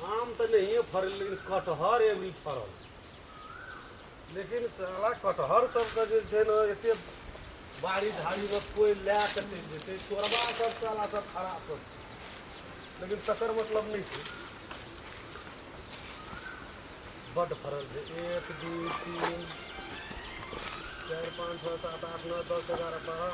आम तऽ नहिए फड़ल लेकिन कटहर एवरी फड़ल लेकिन साला कटहर सबके जे छै ने एते बाड़ी झाड़ीमे कोइ लए कऽ चलि जेतै चोरबा सब साला सब खराब सब छै। लेकिन तकर मतलब नहि छै बड्ड फड़ल छै एक दू तीन चारि पाँच छओ सात आठ नओ दस एगारह बारह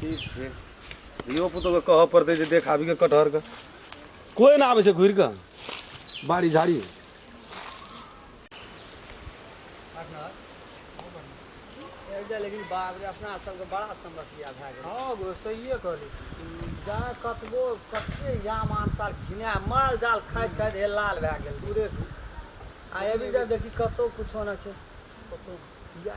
ठीक छै धियो पुतोके कहऽ पड़तै जे देख आबि कऽ कटहरके कोइ नहि आबै छै घुरि कऽ बाड़ी झाड़ी लेकिन बाप रे अपना सबके बड़ा समस्या भए गेल हँ गो सहिए कहली जहाँ कतबो कते याम आमतार घिना माल जाल खाइत खाइत हे लाल भए गेल दूरे दूर आ एबी जा देखी कतहु किछो नहि छै कतहु किया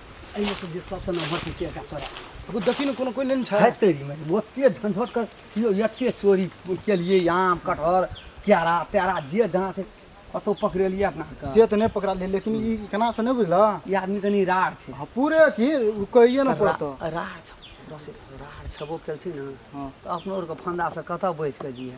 एहिमे तऽ जे सबसँ ने बचै छै एकटा तोरा एगो देखी ने कोनो कोइ लेने छै हेतै रे माय ओते झंझट कर यौ एते चोरी केलियै आम कटहर केरा तेरा जे जहाँ छै कतौ पकड़ेलियै अपना आरके से तऽ नहि पकड़ा ले लेकिन ई केना से नहि बुझलऽ ई आदमी कनि रार छै हँ, पूरे की ओ कहिए ने पड़तऽ रा- रार छ- बस रार छेबो केलखिन ने हँ। तऽ अपनो आरके फंदासँ कतऽ बचि कऽ दिए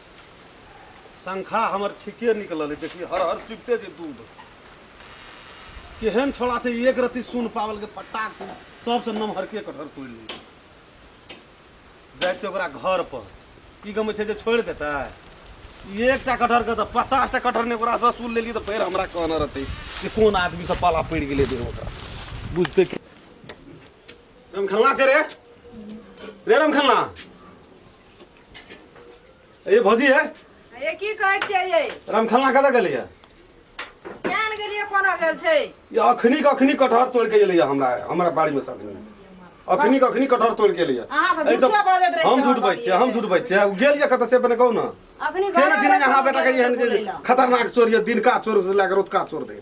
शंखा हमर ठीके निकलल है देखिए हर हर चुपते जे दूध केहन छोड़ा छै एक रत्ती सुन पावल के फटाक से सबसँ नमहरके कटहर तोड़ि ली जाइ छै ओकरा घर पर की गमे छै जे छोड़ि देतै एकटा कटहर के तऽ पचास टा कटहर ने ओकरा से सुन लेलियै तऽ फेर हमरा कहना रहतै कि कोन आदमी से पाला पड़ि गेलै देह ओकरा बुझते कि रमखल्ला छै रे रे रमखल्ला ए भौजी है ये की कहै छियै ये रामखलना कतऽ गेलैया केहन गेलियै कोना गेल छै ये अखनी के अखनी कटहर तोड़ के एलैया हमरा हमरा बाड़ी में साथ में अखनी के अखनी कटहर तोड़ के एलैया अहाँ तऽ ऐ सब- झूठे बाजैत रहै हम छियै झूठ हमरा बाजै छियै हम बाड़ी। झूठ बाजै छियै उ गेल या कतऽ से अपने कहू ना अखनी केना घरे चिन्है अहाँ बेटा के बोलै एहन लए। जे खतरनाक चोर या दिनका चोर से लए के रोतका चोर धरि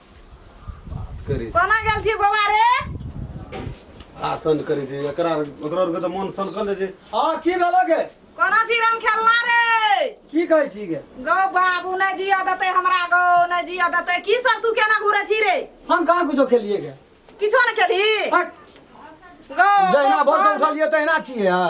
बात करै छै कोना गेल छी बौआ रे आसन करै छै एकरा ओकरा आरके तऽ मोन सनकल छै हँ की भेलो गे कोना छी राम खेलना रे की कहै छी गे गौ बाबू नहि जिया देतै हमरा गौ नहि जिया देतै की सब तू केना घुरे छी रे हम कहाँ कुछो खेलिए गे किछो नहि खेली हट, गौ जहिना भर से उठलिए तहिना छिए हँ